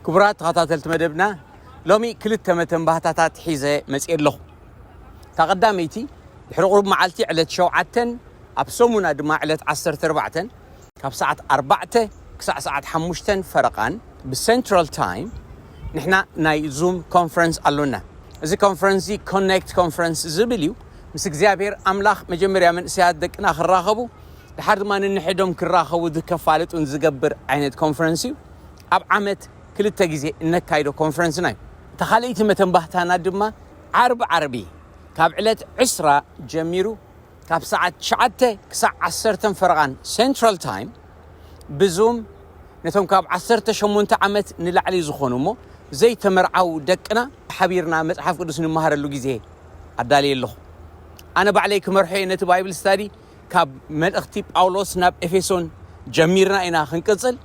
ክቡራት ተኸታተልቲ መደብና ሎሚ ክልተ መተንባህታታት ሒዘ መፅእ ኣለኹ እታ ቀዳመይቲ ድሕሪ ቁሩብ መዓልቲ ዕለት ሸውዓተን ኣብ ሰሙና ድማ ዕለት ዓሰርተ ኣርባዕተን ካብ ሰዓት ኣርባዕተ ክሳዕ ሰዓት ሓሙሽተን ፈረቓን ብሰንትራል ታይም ንሕና ናይ ዙም ኮንፈረንስ ኣሎና። እዚ ኮንፈረንስ እዚ ኮኔክት ኮንፈረንስ ዝብል እዩ። ምስ እግዚኣብሔር ኣምላኽ መጀመርያ መንእሰያት ደቅና ክራኸቡ ድሓር ድማ ንንሕዶም ክራኸቡ ዝከፋልጡን ዝገብር ዓይነት ኮንፈረንስ እዩ። ኣብ ዓመት ክልተ ግዜ እነካይዶ ኮንፈረንስና እዩ። እታ ካልኣይቲ መተንባህታና ድማ ዓርቢ ዓርቢ ካብ ዕለት ዕስራ ጀሚሩ ካብ ሰዓት ትሽዓተ ክሳዕ ዓሰርተን ፈረቓን Central Time ብዙም ነቶም ካብ ዓሰርተ ሸሞንተ ዓመት ንላዕሊ ዝኾኑ እሞ ዘይተመርዓዉ ደቅና ሓቢርና መጽሓፍ ቅዱስ ንመሃረሉ ግዜ ኣዳልየ ኣለኹ። ኣነ ባዕለይ ክመርሖ እየ ነቲ ባይብል ስታዲ ካብ መልእኽቲ ጳውሎስ ናብ ኤፌሶን ጀሚርና ኢና ክንቅጽል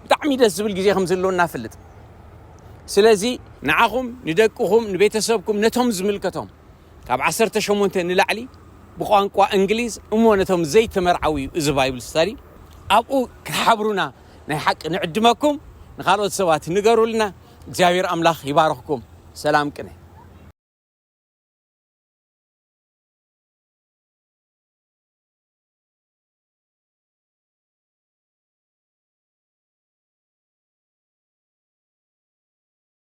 ብጣዕሚ ደስ ዝብል ግዜ ከም ዘሎና እፈልጥ ስለዚ ንዓኹም ንደቅኹም ንቤተሰብኩም ነቶም ዝምልከቶም ካብ ዓሰርተ ሸሞንተ ንላዕሊ ብቋንቋ እንግሊዝ እሞ ነቶም ዘይተመርዓዉ እዩ እዚ ባይብል ስታዲ ኣብኡ ክትሓብሩና ናይ ሓቂ ንዕድመኩም ንካልኦት ሰባት ንገሩልና እግዚኣብሔር ኣምላኽ ይባርኽኩም ሰላም ቅነ